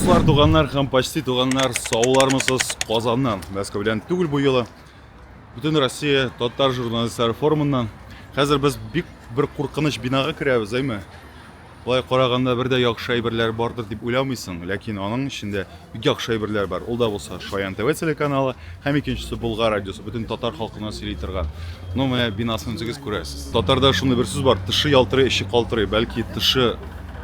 Дуслар, туганнар һәм почти туганнар, саулармысыз Казаннан, Мәскәү белән түгел бу юлы. Бүтән Россия татар журналистлары форумыннан. Хәзер без бик бер куркыныч бинага керәбез, әйме? Болай караганда бер дә яхшы әйберләр бардыр дип уйламыйсың, ләкин аның эчендә бик яхшы әйберләр бар. Ул да булса Шаян ТВ телеканалы һәм икенчесе Болгар радиосы бөтен татар халкына сөйли торган. Ну менә бинасын үзегез күрәсез. Татарда шундый бер сүз бар, тышы ялтырый, эче калтырый. Бәлки тышы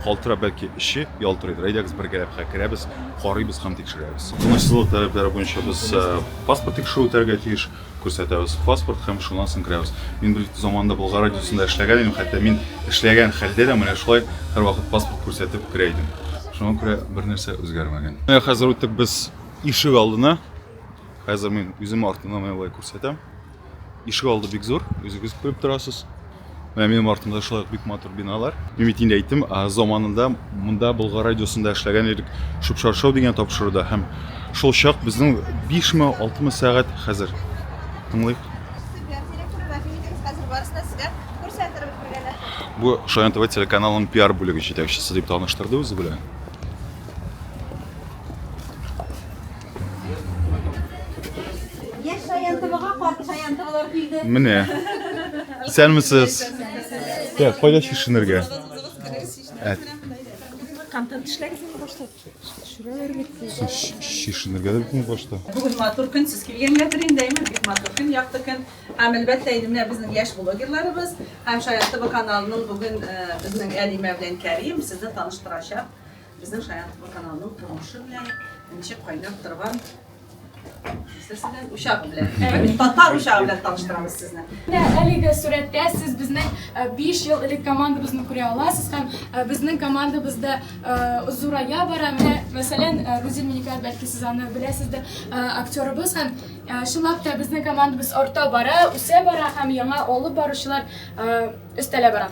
Калтырап бәлки эче ялтырыйдыр. Әйдәгез бергәләп хә керәбез, карыйбыз һәм тикшерәбез. Тынычлык таләпләре буенча без э, паспорт тикшерү үтәргә тиеш, күрсәтәбез паспорт һәм шуннан соң керәбез. Мин бер заманда Болгар радиосында эшләгән идем, хәтта мин эшләгән хәлдә дә менә шулай һәрвакыт паспорт күрсәтеп керә идем. Шуңа күрә бер нәрсә үзгәрмәгән. Менә хәзер үттек без ишек алдына. Хәзер мин үзем артымнан менә болай күрсәтәм. Ишек алды бик зур, үзегез күреп торасыз. Менә минем артымда шулай бик матур биналар. Мин бит инде әйттем, заманында монда Болгар радиосында эшләгән идек, шупшаршау дигән тапшыруда һәм шул чак безнең 5000 6000 сәгать хәзер. Тыңлыйк. Бу Шаян ТВ телеканалының пиар бүлеге җитәкчесе дип таныштырды үзе белән. Яшь шаянтыбыга карт шаянтыбылар килде. Менә. Исәнмесез. Тә, кайда чишенергә? Әт. Контент эшләгез инде башта. Төшерәләр бит. Чишенергә дә бит башта. Бүген матур көн сез килгәнгәдер инде, әйме, бик матур көн, якты көн. Һәм әлбәттә инде менә безнең яшь блогерларыбыз һәм Шаянтыбы каналының бүген э, безнең Әлимә белән Кәрим сезне таныштырачак. Безнең Шаян ТВ каналының тормышы белән ничек кайнап торган Сезне учак белән. Әйе, татар учагы белән таныштырабыз сезне. Менә әлеге сурәттә сез безнең 5 ел элек командабызны күрә аласыз һәм безнең командабызда зурая бара. Менә, мәсәлән, Рузил Миникат, бәлки сез аны беләсездер, актерыбыз һәм чынлап та безнең командабыз арта бара, үсә бара һәм яңа алып баручылар өстәлә бара.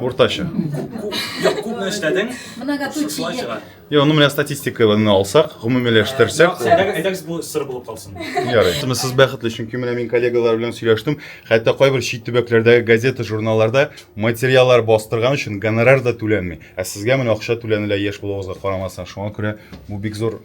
Уртача. Юк, күпме эшләдең? Шулай чыга. Йо, ну менә статистиканы алсак, гомумиләштерсәк. Әйдәгез бу сыр булып калсын. Ярый. Сез бәхетле, чөнки менә мин коллегалар белән сөйләштем. Хәтта кайбер чит төбәкләрдәге газета, журналларда материаллар бастырган өчен гонорар да түләнми. Ә сезгә менә акча түләнелә яшь булуыгызга карамастан. Шуңа күрә бу бик зур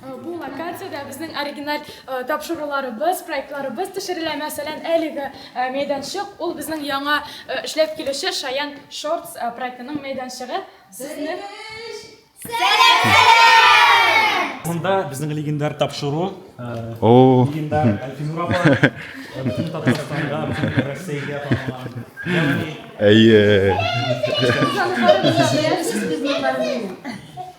Бу локациядә безнең оригиналь тапшыруларыбыз, проектларыбыз төшерелә. Мәсәлән, әлеге мәйданчык, ул безнең яңа эшләп килүче Шаян Шортс проектының мәйданчыгы. Сезне Монда безнең легендар тапшыру, легендар Әлфинур апа, бөтен Татарстанга, бөтен Россиягә танылган. Ягъни Әйе. Сезнең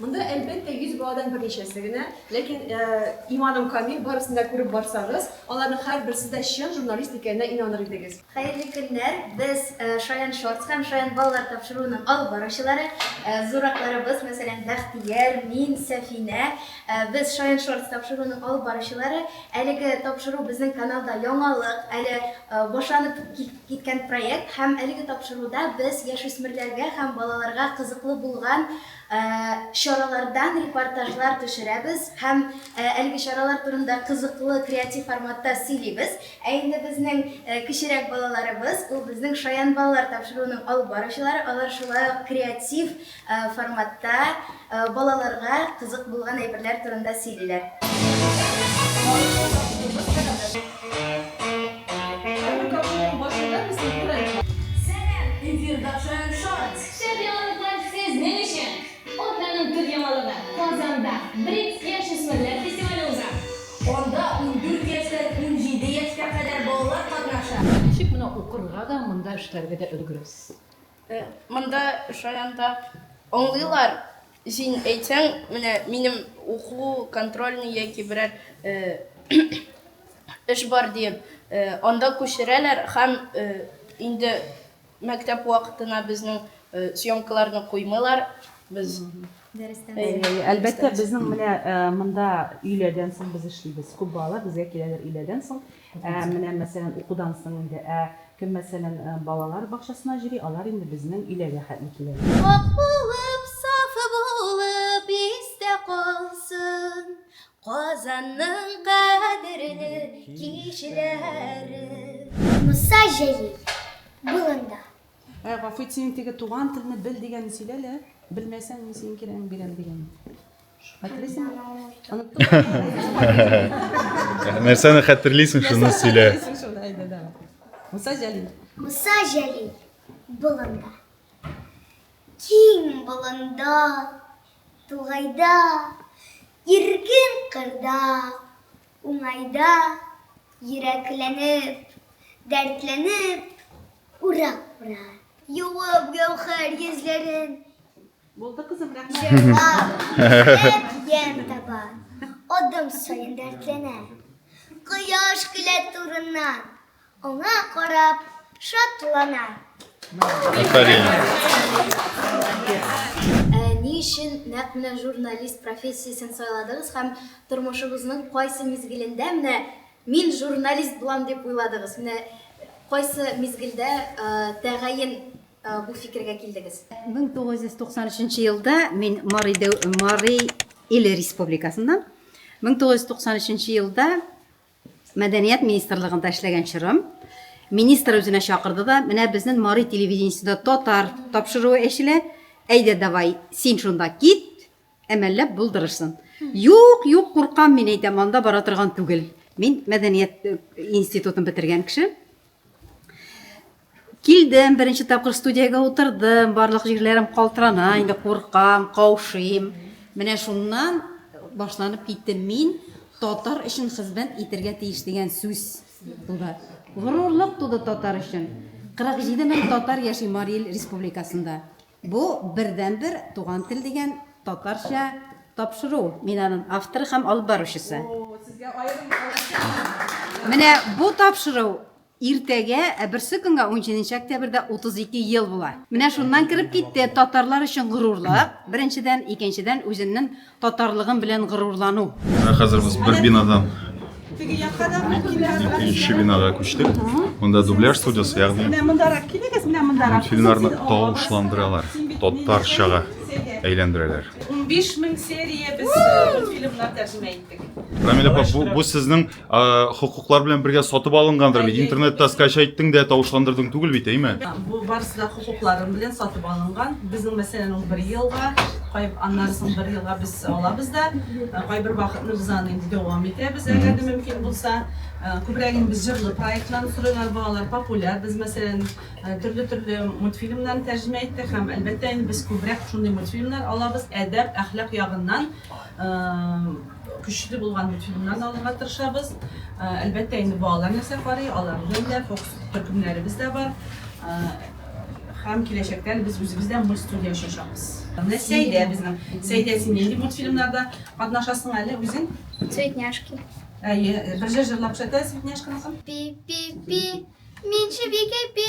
Монда әлбәттә 100 баладан берничәсе генә, ләкин э, иманым камил, барысын да күреп барсагыз, аларның һәрберсе дә чын журналист икәненә инаныр идегез. Хәерле көннәр! Без э, Шаян Шортс һәм Шаян балалар тапшыруының алып баручылары, э, зуракларыбыз, мәсәлән, Бәхтияр, мин, Сәфинә. Э, Без Шаян Шортс тапшыруының алып баручылары. Әлеге тапшыру безнең каналда яңалык, әле э, башланып кит- киткән проект һәм әлеге тапшыруда без яшүсмерләргә һәм балаларга кызыклы булган чаралардан репортажлар төшерәбез һәм әлеге чаралар турында кызыклы креатив форматта сөйлибез. Ә инде безнең кечерәк балаларыбыз, ул безнең Шаян балалар тапшыруының алып баручылары, алар шулай ук креатив форматта балаларга кызык булган әйберләр турында сөйлиләр. Ничек монда укырга да, монда эшләргә дә өлгерәсез? Э, монда шаянда аңлыйлар, син әйтсәң, менә минем уклу контрольный яки берәр э, эш бар диеп, э, анда күчерәләр һәм инде мәктәп вакытына безнең съемкаларны куймыйлар. Без дәрестән Әлбәттә, безнең менә монда өйләдән соң без эшлибез. Күп балалар безгә киләләр өйләдән соң. Ә менә, мәсәлән, укудан соң инде, ә кем, мәсәлән, балалар бакчасына йөри, алар инде безнең өйләргә хәтле киләләр. Пакь булып, саф булып истә калсын Казанның кадерле кичләре. Муса Җәлил болында. Ә, Гафу ит, синең теге туган телне бел дигәнне сөйлә әле, белмәсәң, мин синең кирәгеңне бирәм дигәнне. Нәрсәне хәтерлисең, шуны сөйлә. Муса Җәлил. Муса Җәлил болында. Киң болында, тугайда, иркен кырда, уңайда, йөрәкләнеп, дәртләнеп, урап-урап. Юып гәүһәр йөзләрен, Булды кызым, рәхмәт. Ян таба. Адым саен дәртләнә. Кояш килә турыннан. Аңа карап шатлана. Афәрин. Ә ни өчен нәкъ менә журналист профессиясен сайладыгыз һәм тормышыгызның кайсы мизгелендә менә мин журналист булам дип уйладыгыз? Менә кайсы мизгелдә тәгаен бу фикергә килдегез? 1993 нче елда мин Марий Марий Ил Республикасыннан 1993 нче елда мәдәният министрлыгында эшләгән чорым министр үзенә чакырды да менә безнең Марий телевидениесендә татар тапшыруы эчелә әйдә давай син шунда кит Әмәлләп булдырырсын. Юк, юк, куркам мин әйтәм, анда бара торган түгел. Мин мәдәният э, институтын бетергән кеше. Килдем, беренче тапкыр студиягә утырдым, барлык җирләрем калтырана, инде куркам, каушыйм. Менә шуннан башланып китте мин татар өчен хезмәт итергә тиеш дигән сүз туды. Горурлык туды татар өчен. 47 мең татар яши Марий Ил республикасында. Бу бердәнбер туган тел дигән татарча тапшыру. Мин анын авторы һәм алып баручысы. Менә бу тапшыру иртәгә, ә берсе көнгә, унҗиденче октябрьдә 32 ел була. Менә шуннан кереп китте татарлар өчен горурлык, беренчедән, икенчедән, үземнен Татарлыгым белән горурлану. Менә хәзер без бер бинадан икенче бинага күчтек. Монда дубляж студиясе, ягъни Менә мондарак килегез, менә мондарак. мультфильмнарны тавышландыралар, татарчага әйләндерәләр. 15 мең серия без э, мультфильмнар тәрҗемә иттек. Рамиль апа, бу, бу сезнең хокуклар белән бергә сатып алынгандыр бит интернетта скачайттың да тавышландырдың түгел бит әйме бу барысы да хокукларым белән сатып алынган безнең мәсәлән ул бер елга аннан соң бер елга без алабыз да кайбер вакытны без аны инде дәвам итәбез әгәр дә мөмкин булса күбрәк инде без җырлы проектлар сорыйлар балалар популяр без мәсәлән төрле төрле мультфильмнарны тәрҗемә иттек һәм әлбәттә инде без күбрәк шундый мультфильмнар алабыз әдәп әхлак ягыннан Көчле булган мультфильмнарны алырга тырышабыз. Әлбәттә, инде балалар нәрсә карый, алар белән дә фокус төркемнәребез дә бар. Һәм киләчәктә без үзебез дә мультстудия ачачакбыз. Менә Сәйдә безнең. Сәйдә, син нинди мультфильмнарда катнашасың әле үзең? Цветняшки. Әйе, бер җыр җырлап күрсәтәсезме Цветняшканысын? Пи-пи-пи, мин чебикә пи.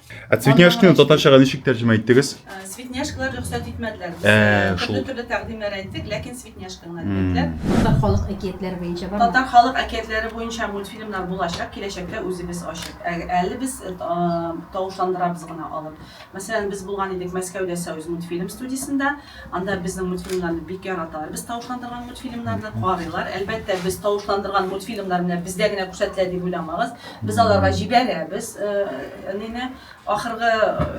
Ә цветняшканы татарчага ничек тәрҗемә иттегез? Э, цветняшкалар рөхсәт итмәделәр. Э, э, төрле төрле тәкъдимнәр әйттек, ләкин цветняшка гына диделәр. Татар халык әкиятләре буенча бар. Татар халык әкиятләре буенча мультфильмнар булачак, киләчәктә үзебез ачык. Ә, әле без тавышландырабыз гына алып. Мәсәлән, без булган идек Мәскәүдә Союз мультфильм студиясендә. Анда безнең мультфильмнарны бик яраталар. Без тавышландырган мультфильмнарны карыйлар. Әлбәттә, без тавышландырган мультфильмнар менә бездә генә күрсәтелә дип уйламагыз. Без аларга җибәрәбез әнине, ахыргы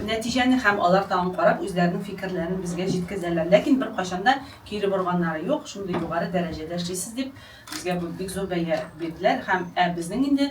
нәтиҗәне һәм алар тагын карап үзләренең фикерләрен безгә җиткезәләр. Ләкин беркайчан да кире борганнары юк, шундый югары дәрәҗәдә эшлисез дип, безгә бу бик зур бәя бирделәр һәм ә безнең инде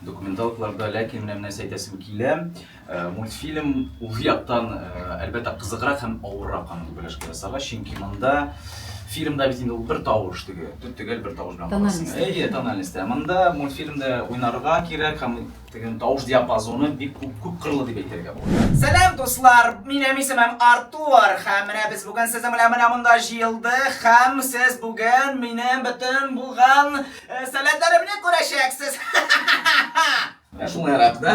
Документалкларда, ләкин менә нәрсә әйтәсем килә, мультфильм үз яктан, әлбәттә, кызыграк һәм авыррак аны дубляжга ясарга, чөнки монда фильмда бит инде ул бер тавыш теге, төгәл бер тавыш белән карасың. Әйе, тональность. Ә монда мультфильмда уйнарга кирәк һәм теге тавыш диапазоны бик күп, күп кырлы дип әйтергә була. Сәлам, дуслар! Минем исемем Артур, һәм менә без бүген сезнең белән менә монда җыелдык, һәм сез бүген минем бөтен булган Сәләтләремне күрәчәксез. Менә шуңа ярап, да?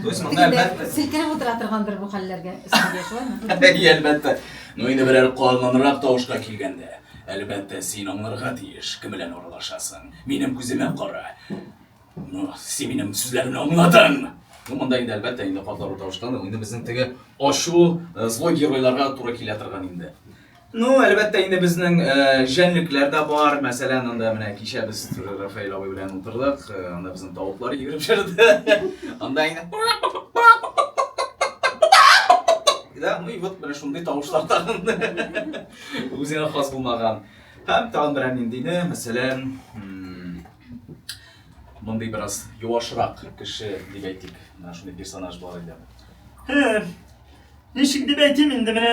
То есть монда әлбәттә. Селкенеп утыра торгандыр бу хәлләргә. Сәбия шулаймы? И, әлбәттә. Ну инде берәр канланрак тавышка килгәндә, әлбәттә, син аңларга тиеш, кем белән аралашасың. Минем күземә кара. Ну, син минем сүзләремне аңладың. Ну, монда инде әлбәттә инде катлаулы тавыштан, инде безнең теге ачу э, злой геройларга туры килә торган инде. Ну, әлбәттә, инде безнең җәнлекләр дә бар. Мәсәлән, анда менә кичә без Рафаэль абый белән утырдык, анда безнең тавыклар йөгереп җырды. Анда инде да, ну и вот менә шундый тавышлар тагын үзенә хас булмаган. Һәм тагын берәр ниндине, мәсәлән, мондый бераз юашрак кеше дип әйтик, менә шундый персонаж бар иде. Ничек дип әйтим инде менә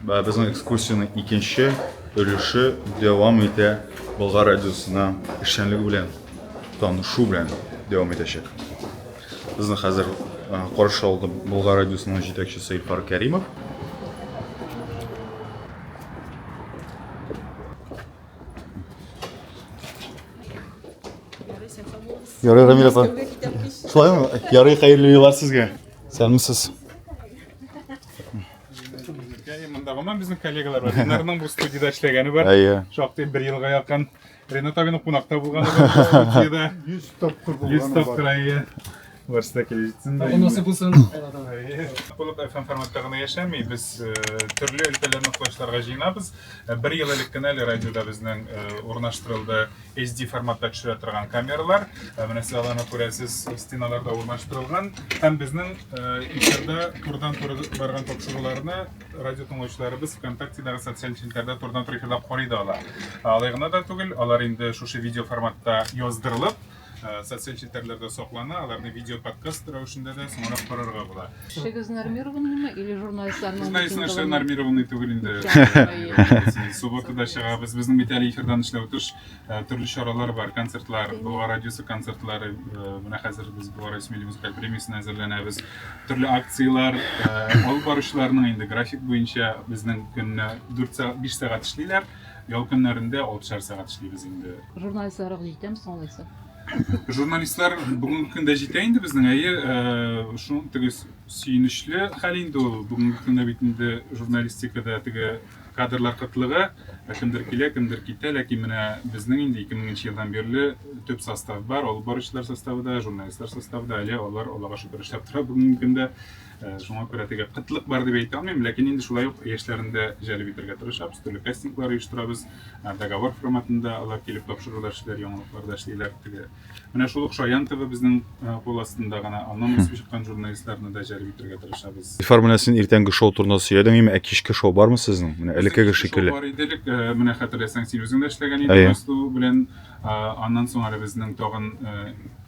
Безнең экскурсиянең икенче өлеше дәвам итә, Болгар радиосына эшчәнлеге белән танышу белән дәвам итәчәк. Безне хәзер каршы алды Болгар радиосының җитәкчесе Илфар Кәримов. Ярый, Рамиль апа. Шулаймы? Ярый, хәерле юллар сезгә. Сәлмисез. Монда гына безнең коллегалар бар. Ренарның бу студияда эшләгәне бар. Әйе. Шактый бер елга якын Ренат абиның кунакта булганы бар. 100 тапкыр булганы бар. 100 тапкыр әйе. Барысы да килеп җитсен. Бу насыйп булсын. Булып FM форматта гына яшәми. Без төрле өлкәләрне кочларга җыенабыз. Бер ел элек кенә әле радиода безнең урнаштырылды HD форматта төшерә торган камералар. Ә менә сез аларны күрәсез, стеналарда урнаштырылган. Һәм безнең эфирда турдан туры барган тапшыруларны радио тыңлаучыларыбыз ВКонтактедагы социаль челтәрдә турдан туры эфирда карый да ала. Алай гына да түгел, алар инде шушы видео форматта яздырылып, социаль челтәрләрдә саклана, аларны видео подкаст рәвешендә дә соңрак карарга була. Эшегез нормированныймы или журналистларның Без мәйсен эшләр митингыларны? нормированный түгел инде. Әйе. Субботада чыгабыз. Безнең бит әле эфирдан эшләү тыш э, төрле чаралар бар, концертлар, Булга радиосы концертлары. Э, Менә хәзер без Булга радиосы милли музыкаль премиясенә әзерләнәбез. Төрле акциялар, э, алып баручыларның инде график буенча безнең көнне 4 сәгать, 5 сәгать эшлиләр. Ял көннәрендә 6 сәгать эшлибез инде. Журналистларга җитәм соң алайса. Журналистлар бүгенге көндә җитә инде безнең, әйе, э, шуның теге сөенечле хәл инде ул. Бүгенге көндә бит инде журналистикада теге кадрлар кытлыгы, ә кемдер килә, кемдер китә, ләкин менә безнең инде 2000 елдан бирле төп состав бар, алып баручылар составы да, журналистлар составы да, әле алар Аллага шөкер эшләп тора бүгенге көндә. Э, шуңа күрә теге кытлык бар дип әйтә алмыйм ләкин инде шулай ук яшьләрен дә җәлеп итәргә тырышабыз төрле кастинглар оештырабыз э, договор форматында алар килеп тапшырулар эшлиләр яңалыкларда эшлиләр теге менә шул ук шаян тв безнең э, кул астында гына аннан үсеп чыккан журналистларны да җәлеп итәргә тырышабыз ильфар менә син иртәнге шоу турында сөйләдең инде ә кичке шоу бармы сезнең менә элеккеге шикелле бар иде элек менә хәтерләсәң син үзең дә эшләгән идең белән аннан соң әле безнең тагын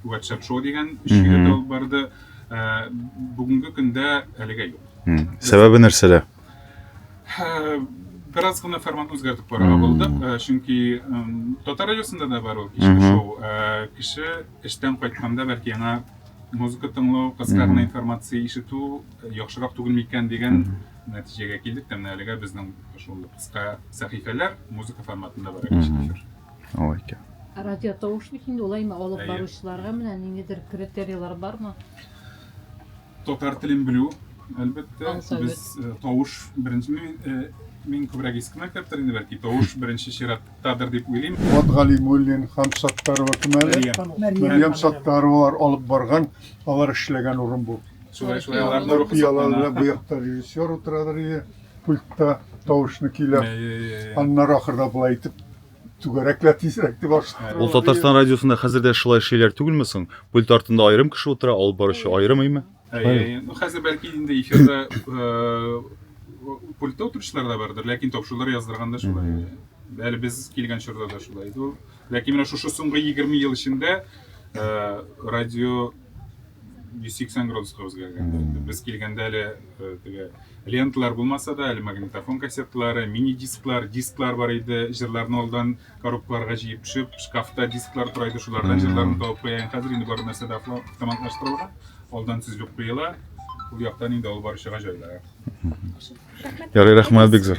ватсап шоу дигән өч егет алып барды Ә, бүгенге көндә әлегә юк. Сәбәбе нәрсәдә? Ә, бераз гына формат үзгәртеп карарга булдык, ә, чөнки татар радиосында да бар ул кичке шоу. Ә, кеше эштән кайтканда бәлки яңа музыка тыңлау, кыска гына информация ишетү э, яхшырак түгел микән дигән нәтиҗәгә килдек тә менә әлегә безнең шул кыска сәхифәләр музыка форматында бар әле эфир. Алай икән. Радиотауыш бит инде улай ма алып баручыларга менә ниндидер критерийлар бармы? Татар телен белү, әлбәттә. Без э, тавыш беренче мин, э, мин күбрәк иске мәктәптер инде бәлки тавыш беренче чираттадыр дип уйлыйм. Вот Галимуллин һәм Саттарова кем әле? Мәрьям Саттаровалар алып барган, алар эшләгән урын бу. Шулай шулай аларны рухи. Бу якта режиссер утырадыр иде. пультта тавышны көйләп, аннары ахырда болай итеп түгәрәклә тизрәк дип ашты. Ул Татарстан радиосында хәзер дә шулай шиләр түгелме соң? Пульт артында аерым кеше утыра, алып баручы аерым име? Хәзер бәлки инде эфирда пультта утыручылар да бардыр, ләкин тапшырулар яздырганда шулай. Әле без килгән чорда да шулай иде. Ләкин менә шушы соңгы 20 ел эчендә радио 180 градуска үзгәргән. Без килгәндә әле теге ленталар булмаса да, әле магнитофон кассеталары, мини-дисклар, дисклар бар иде. Җырларны алдан коробкаларга җыеп төшеп, шкафта дисклар тора иде, шулардан җырларны табып куя. Хәзер инде бар нәрсә дә автоматлаштырылган. Алдан төзелеп куела. Ул яктан инде алып баручыга җайлырак. Ярый, рәхмәт бик зур.